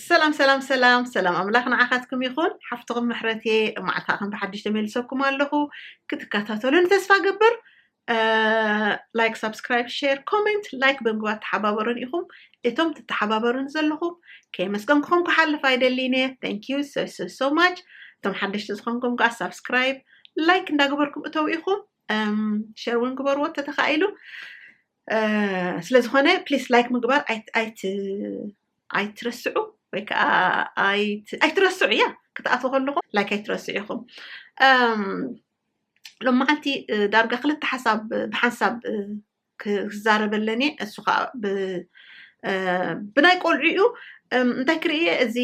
ሰላም ሰላም ሰላም ሰላም ኣምላኽ ንዓኻትኩም ይኹን ሓፍትኹም ምሕረት እየ ማዕልታ ከም ብሓድሽ ተመልሰኩም ኣለኹ ክትከታተሉን ተስፋ ገብር ላይክ ሳብስክራይብ ሼር ኮሜንት ላይክ ብምግባር ተሓባበሩን ኢኹም እቶም ትተሓባበሩን ዘለኹም ከየመስገንኩኹም ክሓልፍ ኣይደሊን እየ ታንኪዩ ሶሶሶ ማች እቶም ሓደሽቲ ዝኾንኩም ከዓ ሳብስክራይብ ላይክ እንዳገበርኩም እተው ኢኹም ሸር እውን ግበርዎ ተተኻኢሉ ስለ ዝኾነ ፕሊስ ላይክ ምግባር ኣይትረስዑ ወይ ከዓ ኣይትረስዑ እያ ክትኣትዎ ከለኹ ላይክ ኣይትረስዑ ኢኹም ሎም መዓልቲ ዳርጋ ክልተ ሓሳብ ብሓንሳብ ክዛረበለን እየ እሱ ከዓ ብናይ ቆልዑ እዩ እንታይ ክርእየ እዚ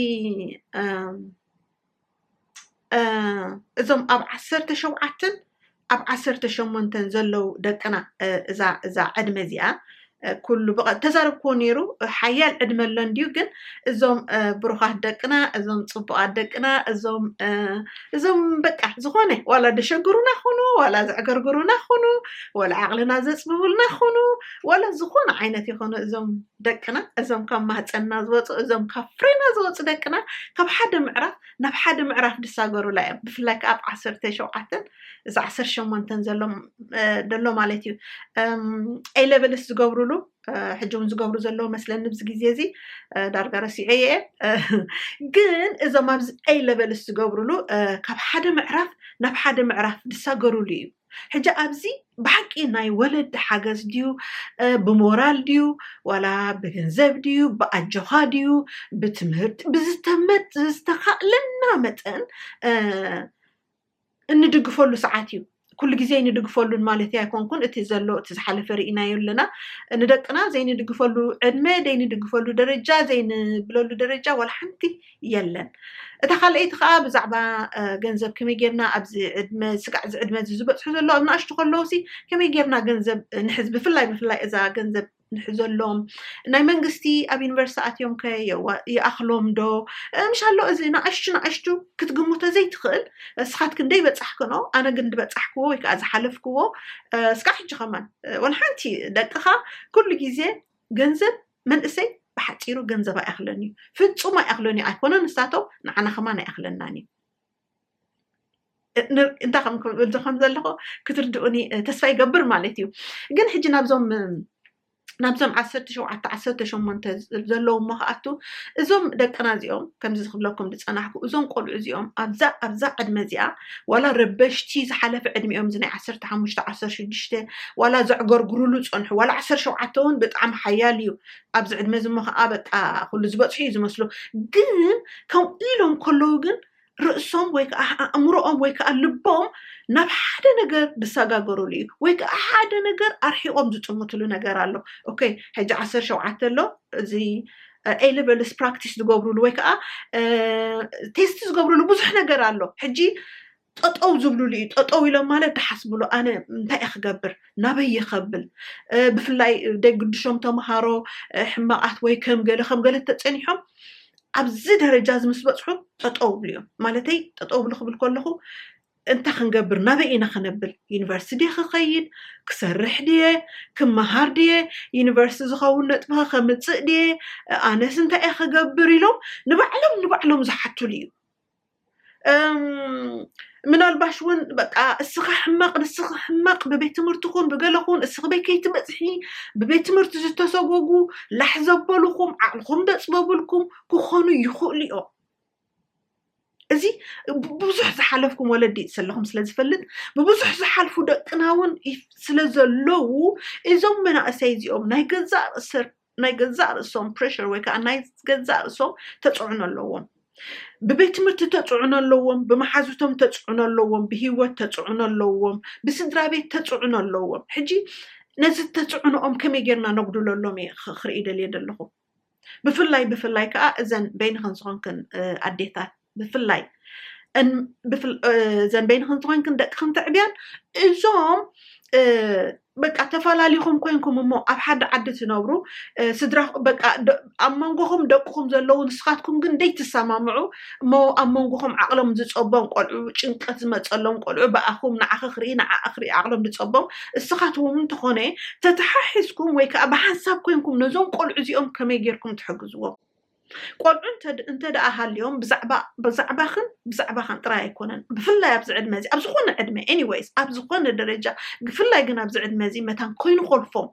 እዞም ኣብ ዓሰርተ ሸውዓተን ኣብ ዓሰርተ ሸሞንተን ዘለው ደቅና እዛ ዕድመ እዚኣ ኩሉ ተዛረብክዎ ነይሩ ሓያል ዕድመ ኣሎ እንድዩ ግን እዞም ብሩኻት ደቅና እዞም ፅቡቃት ደቅና እዞም እዞም በቃ ዝኾነ ዋላ ደሸግሩና ኹኑ ዋላ ዘዕገርግሩና ኹኑ ዋላ ዓቕልና ዘፅብቡልና ኹኑ ዋላ ዝኾነ ዓይነት ይኾኑ እዞም ደቅና እዞም ካብ ማህፀንና ዝወፁ እዞም ካብ ፍሬና ዝወፁ ደቅና ካብ ሓደ ምዕራፍ ናብ ሓደ ምዕራፍ ድሳገሩላ እዮም ብፍላይ ከዓ ኣብ ዓሰርተ ሸውዓተን እዚ ዓሰርተ ሸሞንተን ዘሎ ማለት እዩ ኤሌቨልስ ዝገብሩሉ ሕጂ እውን ዝገብሩ ዘለዉ መስለኒ ብዚ ግዜ እዚ ዳርጋ ረሲዐ እየ ግን እዞም ኣብዚ ኤይ ለቨልስ ዝገብሩሉ ካብ ሓደ ምዕራፍ ናብ ሓደ ምዕራፍ ዝሳገሩሉ እዩ ሕጂ ኣብዚ ብሓቂ ናይ ወለዲ ሓገዝ ድዩ ብሞራል ድዩ ዋላ ብገንዘብ ድዩ ብኣጆኻ ድዩ ብትምህርቲ ብዝተመት ዝተኻእለና መጠን እንድግፈሉ ሰዓት እዩ ኩሉ ግዜ ንድግፈሉን ማለት ኣይኮንኩን እቲ ዘሎ እቲ ዝሓለፈ ርኢናዮ ኣለና ንደቅና ዘይንድግፈሉ ዕድመ ዘይንድግፈሉ ደረጃ ዘይንብለሉ ደረጃ ዋላ ሓንቲ የለን እታ ካልኣይቲ ከዓ ብዛዕባ ገንዘብ ከመይ ጌርና ኣብዚ ዕድመ ስጋዕ እዚ ዕድመ እዚ ዝበፅሑ ዘሎ ኣብ ንኣሽቱ ከለውሲ ከመይ ጌርና ገንዘብ ንሕዝ ብፍላይ ብፍላይ እዛ ገንዘብ ንሕዘሎም ናይ መንግስቲ ኣብ ዩኒቨርስቲ ኣትዮም ከ ይኣኽሎም ዶ ምሻሎ እዚ ንኣሽቱ ንኣሽቱ ክትግምቶ ዘይትኽእል እስኻት ክንደይ በፃሕክኖ ኣነ ግን ዝበፃሕክዎ ወይ ከዓ ዝሓለፍክዎ እስካዕ ሕጂ ከማን ወላ ሓንቲ ደቅኻ ኩሉ ግዜ ገንዘብ መንእሰይ ብሓጺሩ ገንዘብ ኣይኣኽሎን እዩ ፍጹም ኣይኣኽሎን እዩ ኣይኮነን ንሳቶም ንዓና ከማን ኣይኣኽለናን እዩ እንታይ ከም ክብል ዝኮን ዘለኹ ክትርድኡኒ ተስፋ ይገብር ማለት እዩ ግን ሕጂ ናብዞም ናብዞም ዓሰርተ ሸውዓተ ዓሰርተ ሸሞንተ ዘለዉ እሞ ከኣቱ እዞም ደቅና እዚኦም ከምዚ ዝክብለኩም ዝፀናሕኩ እዞም ቆልዑ እዚኦም ኣብዛ ኣብዛ ዕድመ እዚኣ ዋላ ረበሽቲ ዝሓለፈ ዕድሚኦም እዚ ናይ ዓሰርተ ሓሙሽተ ዓሰርተ ሽዱሽተ ዋላ ዘዕገርግሩሉ ፀንሑ ዋላ ዓሰርተ ሸውዓተ እውን ብጣዕሚ ሓያል እዩ ኣብዚ ዕድመ እዚ እሞ ከዓ በቃ ኩሉ ዝበፅሑ እዩ ዝመስሎ ግን ከምኡ ኢሎም ከለዉ ግን ርእሶም ወይ ከዓ ኣእምሮኦም ወይ ከዓ ልቦም ናብ ሓደ ነገር ዝሰጋገሩሉ እዩ ወይ ከዓ ሓደ ነገር ኣርሒቆም ዝጥምትሉ ነገር ኣሎ ኦኬ ሕጂ ዓሰርተ ሸውዓተ ኣሎ እዚ ኤሌቨልስ ፕራክቲስ ዝገብሩሉ ወይ ከዓ ቴስት ዝገብሩሉ ብዙሕ ነገር ኣሎ ሕጂ ጠጠው ዝብልሉ እዩ ጠጠው ኢሎም ማለት ድሓስብሉ ኣነ እንታይ እየ ክገብር ናበይ ይከብል ብፍላይ ደግድሾም ተምሃሮ ሕማቃት ወይ ከም ገለ ከም ገለ ተፀኒሖም ኣብዚ ደረጃ እዚ ምስ በፅሑ ጠጠው ብሉ እዮም ማለተይ ጠጠው ብሉ ክብል ከለኹ እንታይ ክንገብር ናበይ ኢና ክነብል ዩኒቨርስቲ ድየ ክኸይድ ክሰርሕ ድየ ክመሃር ድየ ዩኒቨርስቲ ዝኸውን ነጥብኸ ከምፅእ ድየ ኣነስ እንታይ እየ ክገብር ኢሎም ንባዕሎም ንባዕሎም ዝሓትሉ እዩ ምናልባሽ እውን በቃ እስኻ ሕመቕ ንስኺ ሕመቕ ብቤት ትምህርቲ ኹን ብገለኹን እስኺ በይ ከይትበፅሒ ብቤት ትምህርቲ ዝተሰጎጉ ላሕ ዘበልኹም ዓቕልኹም ደፅበብልኩም ክኾኑ ይኽእሉ እዮም እዚ ብብዙሕ ዝሓለፍኩም ወለዲ ዘለኹም ስለ ዝፈልጥ ብብዙሕ ዝሓልፉ ደቅና እውን ስለ ዘለዉ እዞም መናእሰይ እዚኦም ናይ ገዛእ ርእሰር ናይ ገዛእ ርእሶም ፕሬሽር ወይ ከዓ ናይ ገዛእ ርእሶም ተፅዕኖ ኣለዎም ብቤት ትምህርቲ ተፅዕኖ ኣለዎም ብመሓዙቶም ተፅዕኖ ኣለዎም ብሂወት ተፅዕኖ ኣለዎም ብስድራ ቤት ተፅዕኖ ኣለዎም ሕጂ ነዚ ተፅዕኖኦም ከመይ ጌርና ነጉድለሎም እየ ክርኢ ደልየ ዘለኹም ብፍላይ ብፍላይ ከዓ እዘን በይንኽን ዝኾንክን ኣዴታት ብፍላይ እዘን በይንኽን ዝኾንክን ደቅኽን ትዕብያን እዞም በቃ ተፈላሊኹም ኮንኩም እሞ ኣብ ሓደ ዓዲ ትነብሩ ስድራ በቃ ኣብ መንጎኹም ደቅኹም ዘለዉ ንስኻትኩም ግን ደይትሰማምዑ እሞ ኣብ መንጎኹም ዓቕሎም ዝጸቦም ቆልዑ ጭንቀት ዝመጸሎም ቆልዑ ብኣኹም ንዓኺ ክርኢ ንዓኣ ክርኢ ዓቕሎም ዝጸቦም እስኻትኩም እንተኾነ ተተሓሒዝኩም ወይ ከኣ ብሓንሳብ ኮንኩም ነዞም ቆልዑ እዚኦም ከመይ ጌርኩም ትሕግዝዎም ቆልዑ እንተ ደኣ ሃልዮም ብዛዕባ ብዛዕባኽን ብዛዕባኻን ጥራይ ኣይኮነን ብፍላይ ኣብዚ ዕድመ እዚ ኣብ ዝኾነ ዕድመ ኤኒዌይስ ኣብ ዝኾነ ደረጃ ብፍላይ ግን ኣብዚ ዕድመ እዚ መታን ኮይኑ ኮልፎም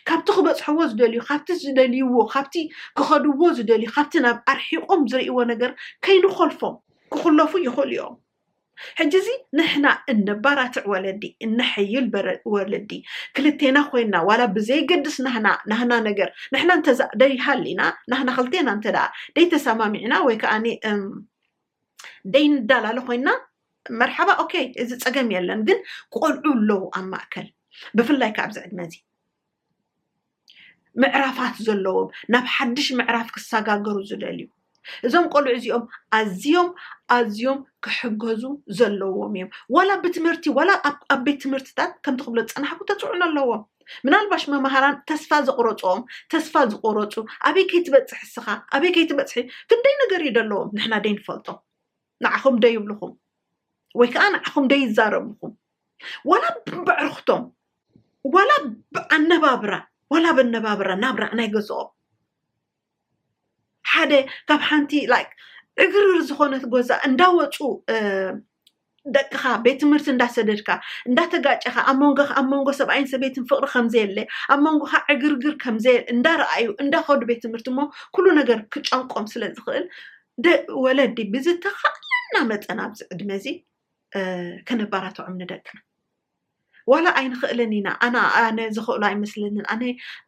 ካብቲ ክበጽሕዎ ዝደልዩ፣ ካብቲ ዝደልይዎ፣ ካብቲ ክኸድዎ ዝደልዩ፣ ካብቲ ናብ ኣርሒቖም ዝርእይዎ ነገር ከይንኾልፎም ክኹለፉ ይኽእሉ እዮም። ሕጂ እዚ ንሕና እነባራትዕ ወለዲ እነሐይል ወለዲ ክልቴና ኮይና ዋላ ብዘይገድስ ናህና ናህና ነገር ንሕና እንተዛ ደይሃሊና ናህና ክልቴና እንተ ደይተሰማሚዕና ወይ ከዓ ደይንዳላለ ኮይንና መርሓባ ኦኬ እዚ ፀገም የለን ግን ቆልዑ ኣለዉ ኣብ ማእከል ብፍላይ ካብ ኣብዚ ዕድመ እዚ ምዕራፋት ዘለዎም ናብ ሓድሽ ምዕራፍ ክሰጋገሩ ዝደልዩ እዞም ቆልዑ እዚኦም ኣዝዮም ኣዝዮም ክሕገዙ ዘለዎም እዮም ዋላ ብትምህርቲ ዋላ ኣብ ቤት ትምህርትታት ከምቲ ክብሎ ዝፀናሕኩ ተፅዕኖ ኣለዎም ምናልባሽ መማህራን ተስፋ ዘቑረጽኦም ተስፋ ዝቑረጹ ኣበይ ከይትበጽሕ እስኻ ኣበይ ከይትበጽሒ ክንደይ ነገር እዩ ደለዎም ንሕና ደይንፈልጦ ንዓኹም ደይብልኹም ወይ ከዓ ንዓኹም ደይዛረብኹም ዋላ ብዕርኽቶም ዋላ ብኣነባብራ ዋላ በነባብራ ናብራ ናይ ገዝኦም ሓደ ካብ ሓንቲ ላይክ ዕግርግር ዝኾነት ጎዛ እንዳወፁ ደቅኻ ቤት ትምህርቲ እንዳሰደድካ እንዳተጋጨኻ ኣብ መንጎ ኣብ መንጎ ሰብኣይን ሰበይትን ፍቅሪ ከምዘየለ ኣብ መንጎኻ ዕግርግር ከምዘየ እንዳረኣዩ እንዳኸዱ ቤት ትምህርቲ እሞ ኩሉ ነገር ክጨንቆም ስለ ዝኽእል ወለዲ ብዝተኻእለና መጠን ኣብዚ ዕድመ እዚ ከነባራትዖም ንደቅና ዋላ ኣይንኽእልን ኢና፣ ኣነ ኣነ ዝኽእሎ ኣይመስለንን፣ ኣነ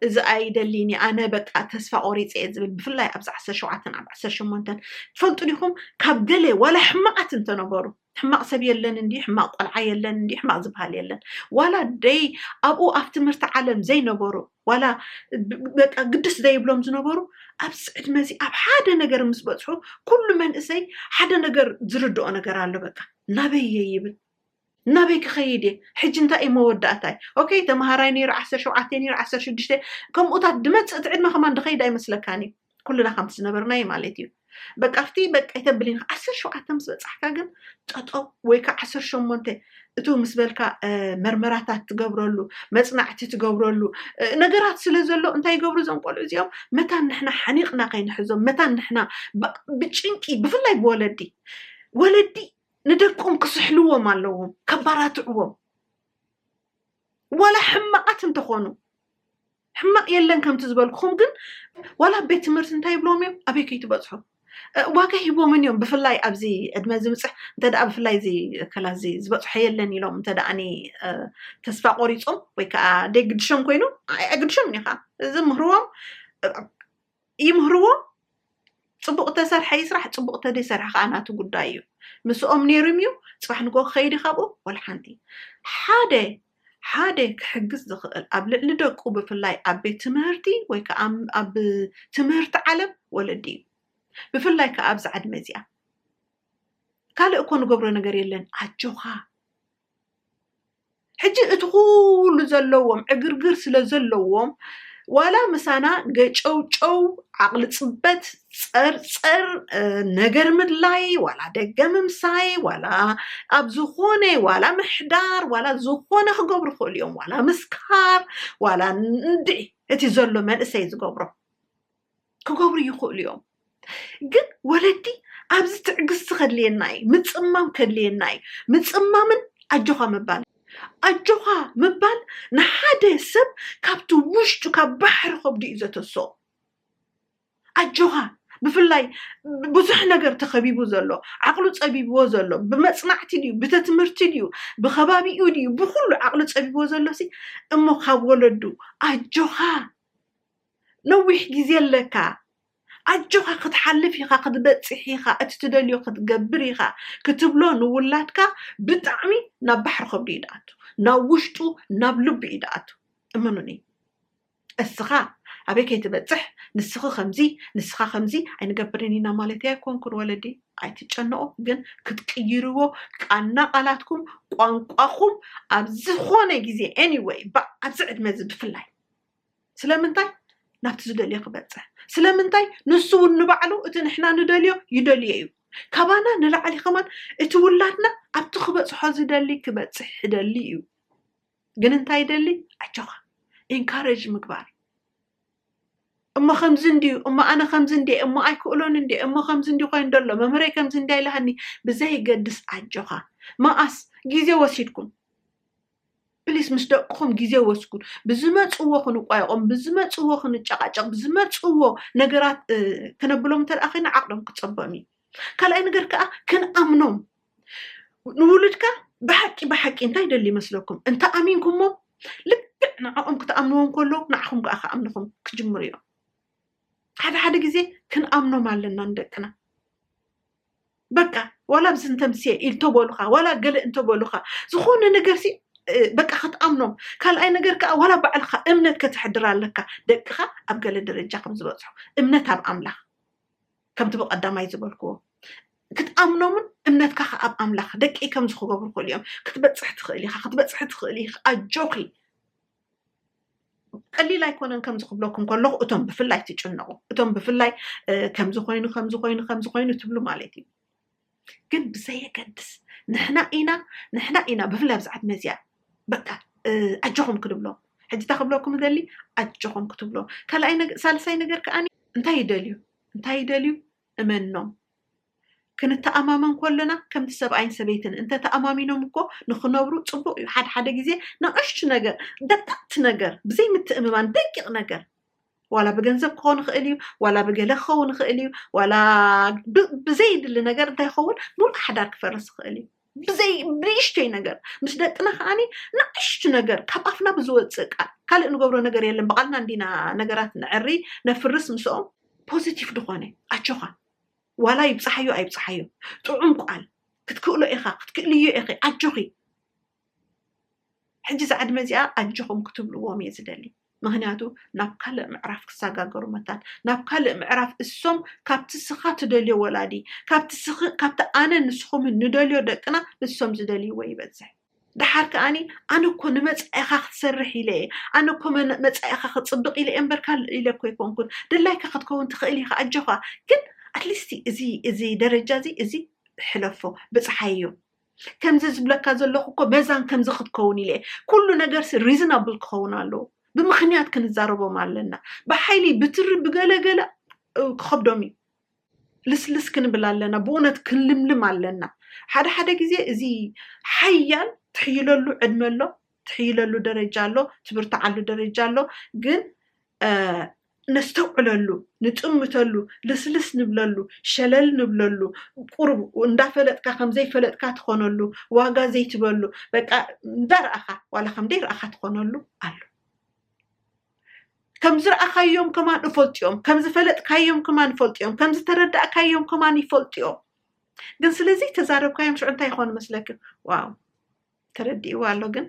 እዚ ኣይደሊን እየ፣ ኣነ በቃ ተስፋ ቆሪፀ እየ ዝብል ብፍላይ ኣብዚ ዓሰርተ ሸውዓተን ኣብ ዓሰርተ ሸሞንተን ትፈልጡ ዲኹም ካብ ገለ ዋላ ሕማቓት እንተነበሩ ሕማቕ ሰብ የለን እንዲ ሕማቕ ቆልዓ የለን እንዲ ሕማቕ ዝበሃል የለን ዋላ ደይ ኣብኡ ኣብ ትምህርቲ ዓለም ዘይነበሩ ዋላ በቃ ግድስ ዘይብሎም ዝነበሩ ኣብዚ ዕድመ እዚ ኣብ ሓደ ነገር ምስ በፅሑ ኩሉ መንእሰይ ሓደ ነገር ዝርድኦ ነገር ኣሎ በቃ ናበይ እየ ይብል ናበይ ክኸይድ እየ ሕጂ እንታይ እዩ መወዳእታይ ኦከይ ተምሃራይ ነይረ ዓሰርተ ሸውዓተ ነይረ ዓሰርተ ሽዱሽተ ከምኡታት ድመጽእ እቲ ዕድመ ከማን ድኸይድ ኣይመስለካን እዩ ኩልና ከምቲ ዝነበርናዩ ማለት እዩ በቃ ኣብቲ በቃ ይተብል ኢንካ ዓሰርተ ሸውዓተ ምስ በጻሕካ ግን ጠጠው ወይ ከዓ ዓሰርተ ሸሞንተ እቱ ምስ በልካ መርመራታት ትገብረሉ መፅናዕቲ ትገብረሉ ነገራት ስለ ዘሎ እንታይ ይገብሩ እዞም ቆልዑ እዚኦም መታን ንሕና ሓኒቕና ከይንሕዞም መታን ንሕና ብጭንቂ ብፍላይ ብወለዲ ወለዲ ንደቆም ክስሕልዎም ኣለዎም ከባራትዕዎም ዋላ ሕማቃት እንተኾኑ ሕማቅ የለን ከምቲ ዝበልኩኹም ግን ዋላ ኣብ ቤት ትምህርቲ እንታይ ይብሎም እዮም ኣበይ ከይትበፅሑ ዋጋ ሂቦምን እዮም ብፍላይ ኣብዚ ዕድመ ዝምፅሕ እንተ ብፍላይ እዚ ከላዚ ዝበፅሖ የለን ኢሎም እንተ ተስፋ ቆሪፆም ወይ ከዓ ደይ ግድሾም ኮይኑ ኣይግድሾም እኒ ከዓ እዚ ምህርዎም ይምህርዎ ፅቡቅ ተሰርሐ ይስራሕ ፅቡቅ ተደይሰርሐ ከዓ ናቱ ጉዳይ እዩ ምስኦም ነይሩም እዩ ፅባሕ ንጎ ክኸይድ ካብኡ ወላ ሓንቲ ሓደ ሓደ ክሕግዝ ዝኽእል ኣብ ልዕሊ ደቁ ብፍላይ ኣብ ቤት ትምህርቲ ወይ ከዓ ኣብ ትምህርቲ ዓለም ወለዲ እዩ ብፍላይ ከዓ ኣብዚ ዕድመ እዚኣ ካልእ እኮ ንገብሮ ነገር የለን ኣጆኻ ሕጂ እቲ ኩሉ ዘለዎም ዕግርግር ስለ ዘለዎም ዋላ ምሳና ገጨውጨው ዓቕሊ ጽበት ጸርጸር ነገር ምድላይ ዋላ ደገ ምምሳይ ዋላ ኣብ ዝኾነ ዋላ ምሕዳር ዋላ ዝኾነ ክገብሩ ይኽእሉ እዮም ዋላ ምስካር ዋላ እንድዒ እቲ ዘሎ መንእሰይ ዝገብሮ ክገብሩ ይኽእሉ እዮም ግን ወለዲ ኣብዚ ትዕግስቲ ከድልየና እዩ ምፅማም ከድልየና እዩ ምፅማምን ኣጆኻ ምባል ኣጆኻ ምባል ንሓደ ሰብ ካብቲ ውሽጡ ካብ ባሕሪ ከብዱ እዩ ዘተሶ ኣጆኻ ብፍላይ ብዙሕ ነገር ተኸቢቡ ዘሎ ዓቕሉ ፀቢብዎ ዘሎ ብመፅናዕቲ ድዩ ብተ ትምህርቲ ድዩ ብከባቢኡ ድዩ ብኩሉ ዓቕሉ ፀቢብዎ ዘሎ ሲ እሞ ካብ ወለዱ ኣጆኻ ነዊሕ ግዜ ኣለካ ኣጆካ ክትሓልፍ ኢካ ክትበጽሕ ኢካ እቲ ትደልዮ ክትገብር ኢካ ክትብሎ ንውላድካ ብጣዕሚ ናብ ባሕሪ ከብዱ እዩ ድኣቱ ናብ ውሽጡ ናብ ልቡ እዩ ድኣቱ እመኑኒ እስኻ ኣበይ ከይትበጽሕ ንስኺ ከምዚ ንስኻ ከምዚ ኣይንገብርን ኢና ማለት ኣይኮንኩን ወለዲ ኣይትጨነቁ ግን ክትቅይርዎ ቃና ቃላትኩም ቋንቋኹም ኣብ ዝኾነ ግዜ ኤኒወይ ኣብዚ ዕድመ እዚ ብፍላይ ስለምንታይ ናብቲ ዝደልዮ ክበፅሕ ስለምንታይ ንሱ እውን ንባዕሉ እቲ ንሕና ንደልዮ ይደልዮ እዩ ካባና ንላዕሊ ከማን እቲ ውላድና ኣብቲ ክበፅሖ ዝደሊ ክበፅሕ ይደሊ እዩ ግን እንታይ ይደሊ ኣጆኻ ኢንካሬጅ ምግባር እሞ ከምዚ እንድዩ እሞ ኣነ ከምዚ እንደ እሞ ኣይክእሎን እንደ እሞ ከምዚ እንዲ ኮይኑ ደሎ መምህረይ ከምዚ እንዳ ኢልሃኒ ብዘይገድስ ኣጆኻ መኣስ ግዜ ወሲድኩም ፕሊስ ምስ ደቅኹም ግዜ ወስዱ ብዝመፅዎ ክንቋየቖም ብዝመፅዎ ክንጨቓጨቕ ብዝመፅዎ ነገራት ክነብሎም እንተ ደኣ ኮይና ዓቕሎም ክፀበም እዩ ካልኣይ ነገር ከዓ ክንኣምኖም ንውሉድካ ብሓቂ ብሓቂ እንታይ ይደሊ ይመስለኩም እንተ ኣሚንኩሞ ልክዕ ንዕኦም ክትኣምንዎም ከሎ ንዓኹም ከዓ ክኣምንኹም ክጅምሩ እዮም ሓደ ሓደ ግዜ ክንኣምኖም ኣለና ንደቅና በቃ ዋላ ምስ እንተምስየ ኢልተበሉካ ዋላ ገለ እንተበሉካ ዝኾነ ነገርሲ በቃ ክትኣምኖም ካልኣይ ነገር ከዓ ዋላ ባዕልካ እምነት ከተሕድር ኣለካ ደቅካ ኣብ ገለ ደረጃ ከም ዝበፅሑ እምነት ኣብ ኣምላኽ ከምቲ ብቀዳማይ ዝበልክዎ ክትኣምኖምን እምነትካ ከዓ ኣብ ኣምላኽ ደቂ ከም ዝክገብሩ ክእሉ እዮም ክትበፅሕ ትኽእል ኢካ ክትበፅሒ ትኽእል ኢካ ኣጆኺ ቀሊል ኣይኮነን ከምዚ ክብለኩም ከለኹ እቶም ብፍላይ ትጭነቑ እቶም ብፍላይ ከምዚ ኮይኑ ከምዚ ኮይኑ ከምዚ ኮይኑ ትብሉ ማለት እዩ ግን ብዘየገድስ ንሕና ኢና ንሕና ኢና ብፍላይ ኣብዚ ዓድመ እዚኣ በቃ ኣጆኹም ክንብሎም ሕጂ እታ ክብለኩም ደሊ ኣጆኹም ክትብሎ ካልኣይ ሳልሳይ ነገር ከዓኒ እንታይ ይደልዩ እንታይ ይደልዩ እመኖም። ክንተኣማመን ከሎና ከምቲ ሰብኣይን ሰበይትን እንተ ተኣማሚኖም እኮ ንኽነብሩ ጽቡቕ እዩ። ሓደ ሓደ ግዜ ንኣሽቱ ነገር፣ ደቀቕቲ ነገር፣ ብዘይ ምትእምማን ደቂቕ ነገር ዋላ ብገንዘብ ክኾን ይኽእል እዩ፣ ዋላ ብገለ ክኸውን ይኽእል እዩ፣ ዋላ ብዘይድሊ ነገር እንታይ ይኸውን ምሉእ ሓዳር ክፈርስ ይኽእል እዩ። ብዘይ ንእሽተይ ነገር ምስ ደቅና ከዓኒ ንእሽቱ ነገር ካብ ኣፍና ብዝወፅእ ቃል ካልእ ንገብሮ ነገር የለን ብቓልና እንዲና ነገራት ንዕሪ ነፍርስ ምስኦም ፖዚቲቭ ዝኾነ ኣቸኻ ዋላ ይብፅሓዮ ኣይብፅሓዮ ጥዑም ቃል ክትክእሎ ኢኻ ክትክእልዮ ኢኺ ኣጆኺ ሕጂ ዝዓድመ እዚኣ ኣጆኹም ክትብልዎም እየ ዝደሊ ምክንያቱ ናብ ካልእ ምዕራፍ ክሳጋገሩ መታን ናብ ካልእ ምዕራፍ እሶም ካብቲ ስካ ትደልዮ ወላዲ ካብቲ ስክ ካብቲ ኣነ ንስኩምን ንደልዮ ደቅና እሶም ዝደልይዎ ይበዝሕ ደሓር ከኣኒ ኣነ እኮ ንመጻኢካ ክትሰርሕ ኢለ እየ ኣነ እኮ መጻኢካ ክጽብቅ ኢለ እየ እምበር ካልእ ኢለ እኮ ኣይኮንኩን ድላይካ ክትከውን ትክእል ኢካ ኣጆካ ግን ኣትሊስቲ እዚ እዚ ደረጃ እዚ እዚ ሕለፎ ብጽሓዮ ከምዚ ዝብለካ ዘለኹ እኮ መዛን ከምዚ ክትከውን ኢለ ኩሉ ነገርሲ ሪዝናብል ክኸውን ኣለዎ ብምክንያት ክንዛረቦም ኣለና ብሓይሊ ብትሪ ብገለገለ ክኸብዶም እዩ ልስልስ ክንብል ኣለና ብእውነት ክንልምልም ኣለና ሓደ ሓደ ግዜ እዚ ሓያል ትሕይለሉ ዕድመ ኣሎ ትሕይለሉ ደረጃ ኣሎ ትብርትዓሉ ደረጃ ኣሎ ግን ነስተውዕለሉ፣ ንጥምተሉ፣ ልስልስ ንብለሉ፣ ሸለል ንብለሉ፣ ቁሩብ እንዳፈለጥካ ከም ዘይፈለጥካ ትኾነሉ፣ ዋጋ ዘይትበሉ፣ በቃ እንዳረኣኻ ዋላ ከም ደይረኣኻ ትኾነሉ ኣሎ። ከም ዝረኣኻዮም ከማን እፈልጥዮም፣ ከም ዝፈለጥካዮም ከማን እፈልጥዮም፣ ከም ዝተረዳእካዮም ከማን ይፈልጥዮም። ግን ስለዚ ተዛረብካዮም ሽዑ እንታይ ይኾኑ መስለኪ? ዋው ተረዲእዋ ኣሎ ግን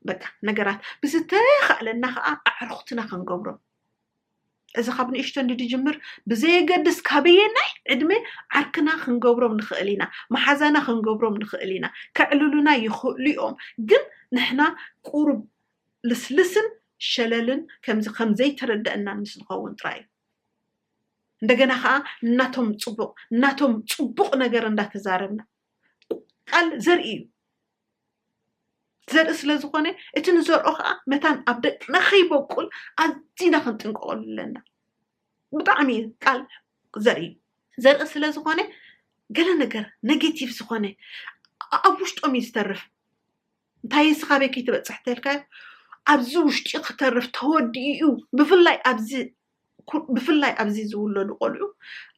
በቃ ነገራት ብዝተኻእለና ከዓ ኣዕርኹትና ክንገብሮም እዚ ካብ ንእሽቶ እንዲ ድጅምር ብዘየገድስ ካበየናይ ዕድመ ዓርክና ክንገብሮም ንኽእል ኢና መሓዛና ክንገብሮም ንኽእል ኢና ከዕልሉና ይኽእሉ እዮም ግን ንሕና ቁሩብ ልስልስን ሸለልን ከምዚ ከምዘይተረዳእና ምስ ንኸውን ጥራይ እዩ እንደገና ከዓ እናቶም ፅቡቅ እናቶም ፅቡቅ ነገር እንዳተዛረብና ቃል ዘርኢ እዩ ዘርኢ ስለ ዝኾነ እቲ ንዘርኦ ከዓ መታን ኣብ ደቅና ከይበቁል ኣዝና ክንጥንቀቐሉ ኣለና ብጣዕሚ ቃል ዘርኢ እዩ ዘርኢ ስለ ዝኾነ ገለ ነገር ኔጌቲቭ ዝኾነ ኣብ ውሽጦም እዩ ዝተርፍ እንታይ እየ ስኻበይ ከይትበፅሕ ተልካዮ ኣብዚ ውሽጢ ክተርፍ ተወዲኡ እዩ ብፍላይ ኣብዚ ብፍላይ ኣብዚ ዝውለዱ ቆልዑ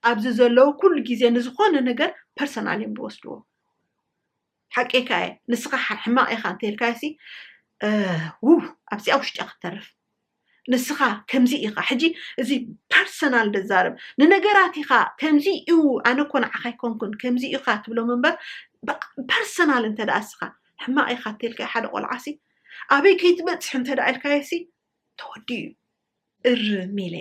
ኣብዚ ዘለዉ ኩሉ ግዜ ንዝኾነ ነገር ፐርሰናል እዮም ዝወስድዎ ሓቂካ እየ ንስኻ ሕማቕ ኢኻ እንተልካሲ ውብ ኣብዚኣ ውሽጢ ክትተርፍ ንስኻ ከምዚ ኢኻ ሕጂ እዚ ፐርሰናል ድዛረብ ንነገራት ኢኻ ከምዚ እዩ ኣነ እኮ ንዓኻ ኣይኮንኩን ከምዚ ኢኻ ትብሎም እምበር ፐርሰናል እንተ ደኣ እስኻ ሕማቕ ኢኻ እተልካዮ ሓደ ቆልዓ ሲ ኣበይ ከይትበፅሕ እንተ ደኣ ኢልካዮ ሲ ተወዲኡ እዩ እርም ኢለ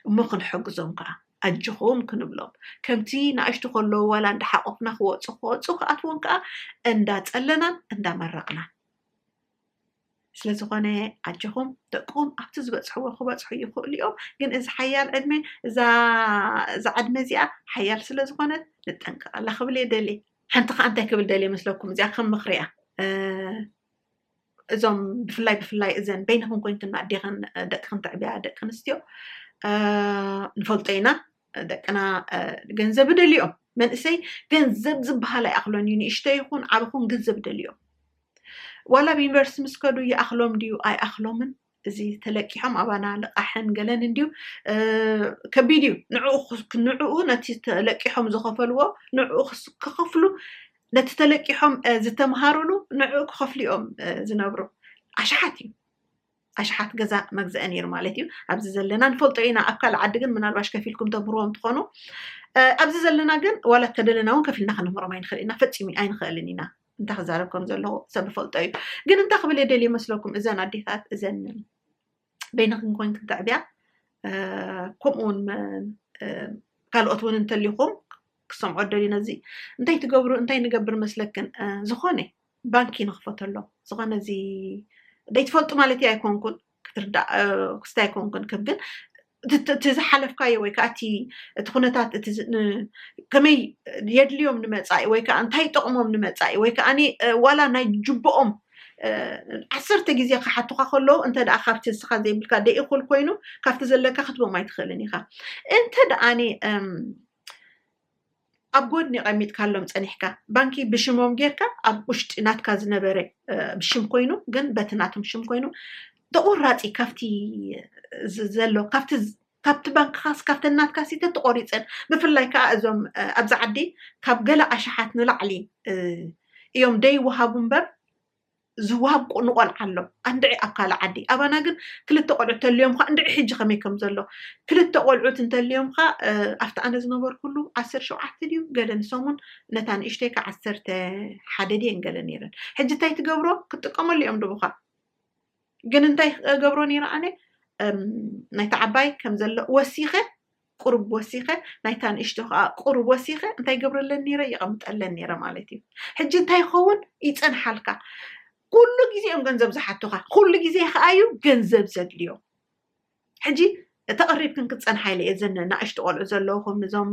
እሞ ክንሕግዞም ከዓ ኣጆኹም ክንብሎም ከምቲ ንኣሽቱ ከለዉ ዋላ እንዳሓቆፍና ክወፁ ክወፁ ክኣትዎም ከዓ እንዳፀለናን እንዳመረቕናን ስለዝኾነ ኣጀኹም ደቅኹም ኣብቲ ዝበፅሕዎ ክበፅሑ ይኽእሉ እዮም ግን እዚ ሓያል ዕድመ እዛ ዕድመ እዚኣ ሓያል ስለዝኾነት ንጠንቀቐላ ክብል እየ ደልየ ሓንቲ ከዓ እንታይ ክብል ደልየ መስለኩም እዚኣ ከም ምኽሪ እያ እዞም ብፍላይ ብፍላይ እዘን በይንኹም ኮይንክና ኣዴኽን ደቅኽን ትዕብያ ደቂ ኣንስትዮ ንፈልጦ ኢና ደቅና ገንዘብ ደልዮም መንእሰይ ገንዘብ ዝበሃል ኣይኣኽሎን እዩ ንእሽቶ ይኹን ዓብ ኹን ገንዘብ ደልዮም ዋላ ብ ዩኒቨርስቲ ምስ ከዱ ይኣኽሎም ድዩ ኣይኣኽሎምን እዚ ተለቂሖም ኣባና ልቃሕን ገለን እንድዩ ከቢድ እዩ ንዕኡ ነቲ ተለቂሖም ዝኸፈልዎ ንዕኡ ክኸፍሉ ነቲ ተለቂሖም ዝተምሃሩሉ ንዕኡ ክኸፍሉ እዮም ዝነብሩ ኣሽሓት እዩ ኣሽሓት ገዛ መግዘኢ ነይሩ ማለት እዩ ኣብዚ ዘለና ንፈልጦ ኢና ኣብ ካልእ ዓዲ ግን ምናልባሽ ከፊልኩም ተምህርዎም ትኾኑ ኣብዚ ዘለና ግን ዋላ ተደለና እውን ከፊልና ክንምህሮም ኣይንኽእል ኢና ፈፂሙ ኣይንኽእልን ኢና እንታይ ክዛረብ ከም ዘለዎ ሰብ ፈልጦ እዩ ግን እንታይ ክብል የደልዩ መስለኩም እዘን ኣዴታት እዘን በይንክን ኮይን ክንተዕብያ ከምኡውን ካልኦት እውን እንተሊኹም ክሰምዖ ደልዩ ነዚ እንታይ ትገብሩ እንታይ ንገብር መስለክን ዝኾነ ባንኪ ንክፈተሎም ዝኮነ እዚ ደይትፈልጡ ማለት ኣይኮንኩን ክትርዳእ ክስቲ ኣይኮንኩን ከም ግን እቲ ዝሓለፍካዮ ወይ ከዓ እቲ እቲ ኩነታት እቲ ከመይ የድልዮም ንመፃኢ ወይ ከዓ እንታይ ጠቕሞም ንመፃኢ ወይ ከዓ ዋላ ናይ ጅብኦም ዓሰርተ ግዜ ክሓቱካ ከለዉ እንተ ደኣ ካብቲ ንስኻ ዘይብልካ ደይእኩል ኮይኑ ካብቲ ዘለካ ክትቦም ኣይትኽእልን ኢኻ እንተ ደኣ ኣብ ጎድኒ ቀሚጥካሎም ጸኒሕካ ባንኪ ብሽሞም ጌርካ ኣብ ውሽጢ ናትካ ዝነበረ ሽም ኮይኑ ግን በቲ ናቶም ሽም ኮይኑ ተቆራፂ ካብቲ ዘሎ ካብቲ ካብቲ ባንክኻስ ካብቲ ናትካ ሲ ተቆሪፀን ብፍላይ ከዓ እዞም ኣብዚ ዓዲ ካብ ገለ ኣሽሓት ንላዕሊ እዮም ደይወሃቡ እምበር ዝወሃብ ቁ ንቆልዓ ኣሎ ኣንድዒ ኣብ ካልእ ዓዲ ኣባና ግን ክልተ ቆልዑት ተልዮምካ እንድዒ ሕጂ ከመይ ከም ዘሎ ክልተ ቆልዑት እንተልዮምካ ኣብቲ ኣነ ዝነበርኩሉ ዓሰርተ ሸውዓተ ድዩ ገለ ንሰሙን ነታ ንእሽተይካ ዓሰርተ ሓደ ድየን ገለ ነይረን ሕጂ እንታይ ትገብሮ ክትጥቀመሉ እዮም ድቡካ ግን እንታይ ገብሮ ነይረ ኣነ ናይቲ ዓባይ ከም ዘሎ ወሲኸ ቁሩብ ወሲኸ ናይታ ንእሽቶ ከኣ ቁሩብ ወሲኸ እንታይ ገብረለን ኔረ የቐምጠለን ኔረ ማለት እዩ ሕጂ እንታይ ይኸውን ይጸንሓልካ ኩሉ ግዜ እዮም ገንዘብ ዝሓቱኻ ኩሉ ግዜ ከኣ እዩ ገንዘብ ዘድልዮም ሕጂ ተቐሪብክን ክትፀንሓ ኢለ እየ ዘን ናእሽቱ ቆልዑ ዘለኹም እዞም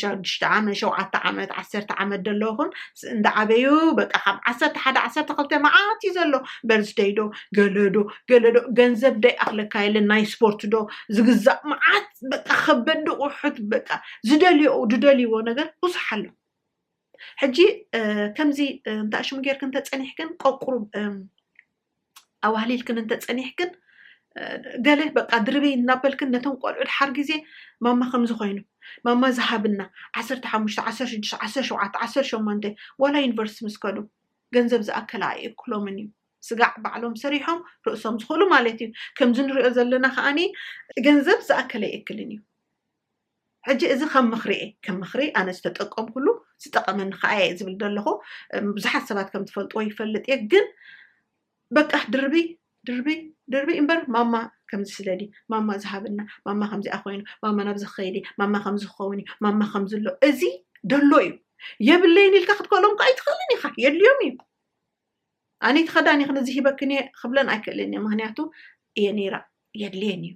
ሸዱሽተ ዓመት ሸውዓተ ዓመት ዓሰርተ ዓመት ዘለኹም እንዳዓበዩ በቃ ካብ ዓሰርተ ሓደ ዓሰርተ ክልተ መዓት እዩ ዘሎ በርዝደይ ዶ ገለዶ ገለዶ ገንዘብ ደይኣኽለካ የለን ናይ ስፖርት ዶ ዝግዛእ መዓት በቃ ከበዲ ቁሑት በቃ ዝደልዮ ዝደልይዎ ነገር ብዙሕ ኣሎ ሕጂ ከምዚ እንታ ሽሙ ጌርክን ተፀኒሕክን ቆቁሩ ኣዋህሊልክን እንተፀኒሕክን ገለ በቃ ድርበይ እናበልክን ነቶም ቆልዑ ድሓር ግዜ ማማ ከምዚ ኮይኑ ማማ ዝሃብና ዓሰርተ ሓሙሽተ ዓሰርተ ሽዱሽተ ዓሰርተ ሸውዓተ ዓሰርተ ሸሞንተ ዋላ ዩኒቨርሲቲ ምስ ከዱ ገንዘብ ዝኣከለ ኣይእክሎምን እዩ ስጋዕ ባዕሎም ሰሪሖም ርእሶም ዝኽእሉ ማለት እዩ ከምዚ ንሪኦ ዘለና ከዓኒ ገንዘብ ዝኣከለ ይእክልን እዩ ሕጂ እዚ ከም ምኽሪ እየ ከም ምኽሪ ኣነ ዝተጠቀምኩሉ ዝጠቐመኒ ከኣ እየ ዝብል ዘለኹ ብዙሓት ሰባት ከም ትፈልጥዎ ይፈልጥ እየ ግን በቃ ድርቢ ድርቢ ድርቢ እምበር ማማ ከምዚ ስለዲ ማማ ዝሃበና ማማ ከምዚኣ ኮይኑ ማማ ናብዚ ክኸይዲ ማማ ከምዚ ክኸውን እዩ ማማ ከምዚ ኣሎ እዚ ደሎ እዩ የብለይን ኢልካ ክትከሎም ከ ኣይትኽእልን ኢኻ የድልዮም እዩ ኣነይቲ ከዳን ይኽን እዚ ሂበክን እየ ክብለን ኣይክእልን እየ ምክንያቱ እየ ነይራ የድልየን እዩ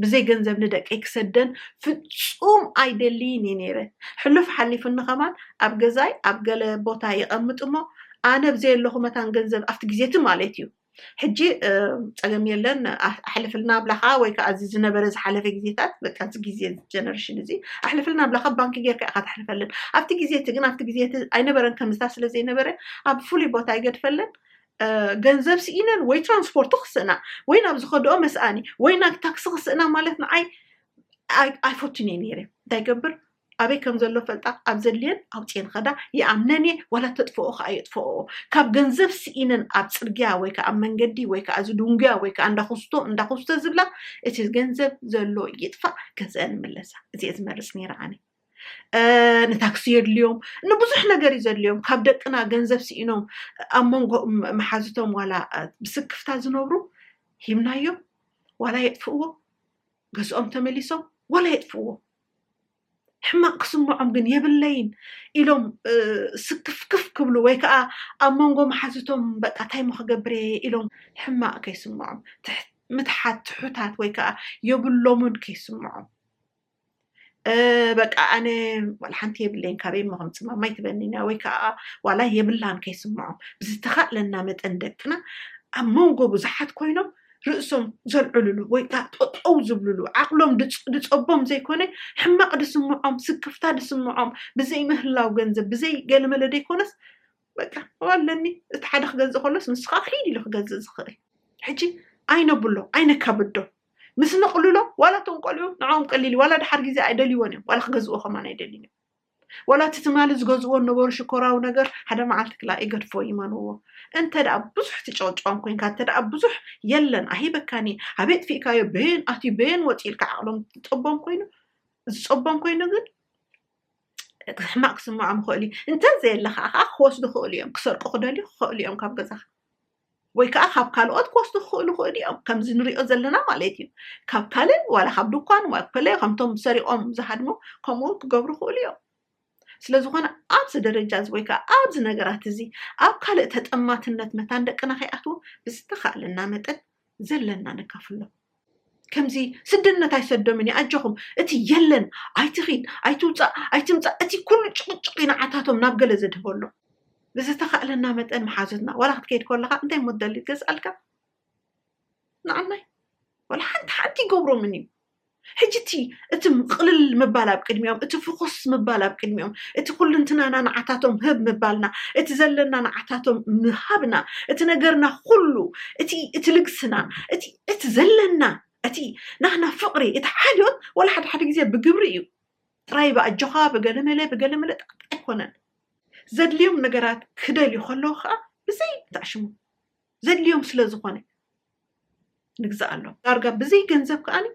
ብዘይ ገንዘብ ንደቀይ ክሰደን ፍፁም ኣይደልይን እዩ ነይረ ሕሉፍ ሓሊፉኒ ከማን ኣብ ገዛይ ኣብ ገለ ቦታ የቐምጥ እሞ ኣነ ብዘየለኹ መታን ገንዘብ ኣብቲ ግዜቲ ማለት እዩ ሕጂ ፀገም የለን ኣሕልፍልና ብላካ ወይ ከዓ እዚ ዝነበረ ዝሓለፈ ግዜታት በቃ እዚ ግዜ ጀነሬሽን እዚ ኣሕልፍልና ብላካ ባንኪ ጌርካ ኢካ ተሕልፈለን ኣብቲ ግዜ እቲ ግን ኣብቲ ግዜ እቲ ኣይነበረን ከምዝታ ስለ ዘይነበረ ኣብ ፍሉይ ቦታ ይገድፈለን ገንዘብ ስኢነን ወይ ትራንስፖርት ክስእና ወይ ናብ ዝኸደኦ መስኣኒ ወይ ናብ ታክሲ ክስእና ማለት ንዓይ ኣይፈቱን እየ ነይረ እንታይ ገብር ኣበይ ከም ዘሎ ፈልጣ ኣብ ዘድልየን ኣውፅኤን ኸዳ ይኣምነን እየ ዋላ ተጥፍኦ ከዓ የጥፍኦ ካብ ገንዘብ ስኢነን ኣብ ፅርግያ ወይ ከዓ ኣብ መንገዲ ወይ ከዓ እዚ ድንጉያ ወይ ከዓ እንዳኹስቶ እንዳኹስቶ ዝብላ እቲ ገንዘብ ዘሎ ይጥፋእ ገንዘበን ይምለሳ እዚየ ዝመርፅ ነይረ ኣነ እ፣ ንታክሲ የድልዮም ንብዙሕ ነገር እዩ ዘድልዮም ካብ ደቅና ገንዘብ ስኢኖም ኣብ መንጎ ም- መሓዝቶም ዋላ እ፣ ብስክፍታ ዝነብሩ ሂብናዮም ዋላ የጥፍእዎ ገዝኦም ተመሊሶም ዋላ የጥፍእዎ ሕማቕ ክስምዖም ግን የብለይን ኢሎም ስክፍክፍ ክብሉ ወይ ከዓ ኣብ መንጎ መሓዙቶም በቃ እንታይ ሞ ክገብር እየ ኢሎም ሕማቕ ከይስምዖም ምትሓት ትሑታት ወይ ከዓ የብሎምን ከይስምዖም በቃ ኣነ ዋላ ሓንቲ የብለይን ካበይ ሞ ከምፅ ማማይ ትበኒና ወይ ከዓ ዋላ የብላን ከይስምዖም ብዝተኻእለና መጠን ደቅና ኣብ መንጎ ብዙሓት ኮይኖም ርእሶም ዘልዕሉሉ ወይ ከዓ ጠጠው ዝብሉሉ ዓቕሎም ድፀቦም ዘይኮነ ሕማቕ ድስምዖም ስክፍታ ድስምዖም ብዘይ ምህላው ገንዘብ ብዘይ ገለመለ ደይኮነስ በቃ ኣለኒ እቲ ሓደ ክገዝእ ከሎስ ንስኻ ክሒድ ኢሉ ክገዝእ ዝኽእል ሕጂ ኣይነብሎ ኣይነካብዶ ምስ ነቕልሎ ዋላ እቶም ቆልዑ ንዕኦም ቀሊል ዋላ ድሓር ግዜ ኣይደልይዎን እዮም ዋላ ክገዝእዎ ከማን ኣይደልዩን እዮም ዋላ እቲ ትማሊ ዝገዝእዎ ነበሩ ሽኮራዊ ነገር ሓደ መዓልቲ ክላእ ይገድፎ ይመንዎ እንተ ደኣ ብዙሕ ትጨቕጭቖም ኮንካ እንተ ደኣ ብዙሕ የለን ኣሂበካን እየ ኣበይ ኣጥፊእካዮ በየን ኣትዩ በየን ወፂኡ ኢልካ ዓቕሎም ዝፀቦም ኮይኑ ዝፀቦም ኮይኑ ግን ሕማቕ ክስምዖም ይኽእሉ እዩ እንተዘየለ ከዓ ክወስዱ ክእሉ እዮም ክሰርቁ ክደልዩ ክኽእሉ እዮም ካብ ገዛኻ ወይ ከዓ ካብ ካልኦት ክወስዱ ክኽእሉ ክእሉ እዮም ከምዚ ንሪኦ ዘለና ማለት እዩ ካብ ካልእ ዋላ ካብ ድኳን ዋ ኮለ ከምቶም ሰሪቖም ዝሃድሙ ከምኡ እውን ክገብሩ ክእሉ እዮም ስለ ዝኾነ ኣብዚ ደረጃ እዚ ወይ ከዓ ኣብዚ ነገራት እዚ ኣብ ካልእ ተጠማትነት መታን ደቅና ከይኣትዉ ብዝተኻእለና መጠን ዘለና ነካፍሎም ከምዚ ስድነት ኣይሰዶምን እዩ ኣጆኹም እቲ የለን ኣይትኺድ ኣይትውፃእ ኣይትምፃእ እቲ ኩሉ ጭቕጭቕ ይንዓታቶም ናብ ገለ ዘድህበሎም ብዝተኻእለና መጠን መሓዙትና ዋላ ክትከይድ ከለካ እንታይ ሞ ትደሊ ትገዝኣልካ ንዓናይ ዋላ ሓንቲ ሓንቲ ይገብሮምን እዩ ሕጂ እቲ እቲ ቅልል ምባል ኣብ ቅድሚኦም እቲ ፍኹስ ምባል ኣብ ቅድሚኦም እቲ ኩልንትናና ንዓታቶም ህብ ምባልና እቲ ዘለና ንዓታቶም ምሃብና እቲ ነገርና ኩሉ እቲ እቲ ልግስና እቲ እቲ ዘለና እቲ ናህና ፍቕሪ እቲ ሓልዮት ወላ ሓደ ሓደ ግዜ ብግብሪ እዩ ጥራይ ብኣጆኻ ብገለመለ ብገለመለ ጣዕጣ ኣይኮነን ዘድልዮም ነገራት ክደልዩ ከለዉ ከዓ ብዘይ ተዕሽሙ ዘድልዮም ስለ ዝኾነ ንግዛእ ኣሎ ዳርጋ ብዘይ ገንዘብ ከዓኒ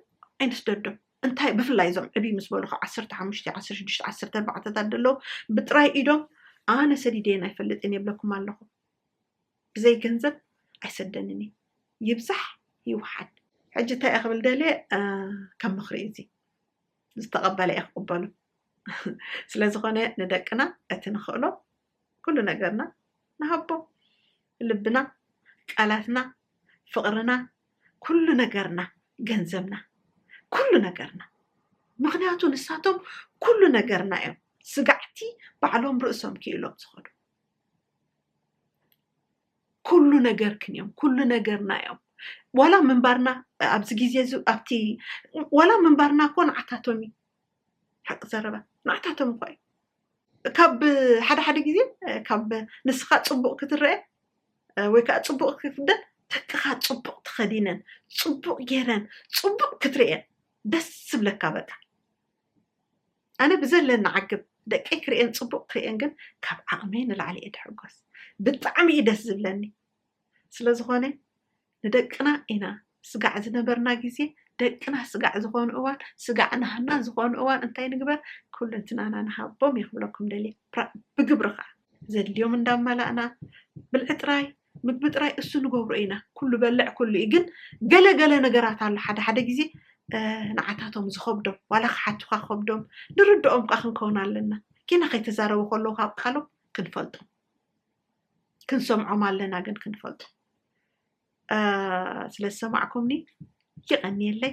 ኣይንስደዶም እንታይ ብፍላይ እዞም ዕብይ ምስ በሉ ካብ ዓሰርተ ሓሙሽተ ዓሰርተ ሽዱሽተ ዓሰርተ ኣርባዕተታት ደለዉ ብጥራይ ኢዶም ኣነ ሰዲደየን ኣይፈልጥን የብለኩም ኣለኹ ብዘይ ገንዘብ ኣይሰደንን እዩ ይብዛሕ ይውሓድ። ሕጂ እንታይ እየ ክብል ደልየ ከም ምኽሪ እዩ እዚ ዝተቐበለ እየ ክቕበሉ ስለ ዝኾነ ንደቅና እቲ ንኽእሎ ኩሉ ነገርና ንሃቦ ልብና ቃላትና ፍቕርና ኩሉ ነገርና ገንዘብና ኩሉ ነገርና ምክንያቱ ንሳቶም ኩሉ ነገርና እዮም ስጋዕቲ ባዕሎም ርእሶም ክኢሎም ዝኸዱ ኩሉ ነገርክን እዮም ኩሉ ነገርና እዮም ዋላ ምንባርና ኣብዚ ግዜ እዚ ኣብቲ ዋላ ምንባርና እኮ ንዓታቶም እዩ ሓቂ ዘረባ ንዓታቶም እኳ እዩ ካብ ሓደ ሓደ ግዜ ካብ ንስኻ ፅቡቅ ክትረአ ወይ ከዓ ፅቡቅ ክትፍደን ደቅኻ ፅቡቅ ተኸዲነን ፅቡቅ ገይረን ፅቡቅ ክትርእየን ደስ ዝብለካ በቃ ኣነ ብዘለኒ ዓግብ ደቀይ ክርእየን ፅቡቕ ክርእየን ግን ካብ ዓቕመይ ንላዕሊ እየ ድሕጎስ ብጣዕሚ እዩ ደስ ዝብለኒ ስለዝኾነ ንደቅና ኢና ስጋዕ ዝነበርና ግዜ ደቅና ስጋዕ ዝኾኑ እዋን ስጋዕ ናህና ዝኾኑ እዋን እንታይ ንግበር ኩለንትናና ንሃቦም እየ ክብለኩም ደልየ ብግብሪ ከዓ ዘድልዮም እንዳመላእና ብልዒ ጥራይ ምግቢ ጥራይ እሱ ንገብሮ ኢና ኩሉ በልዕ ኩሉ እዩ ግን ገለ ገለ ነገራት ኣሎ ሓደ ሓደ ግዜ ንዓታቶም ዝኸብዶም ዋላ ክሓቱኻ ክኸብዶም ንርድኦም ቃ ክንከውን ኣለና ኪና ከይተዛረቡ ከለዉ ካብ ቃሎም ክንፈልጦም ክንሰምዖም ኣለና ግን ክንፈልጦም ስለ ዝሰማዕኩምኒ ይቐንየለይ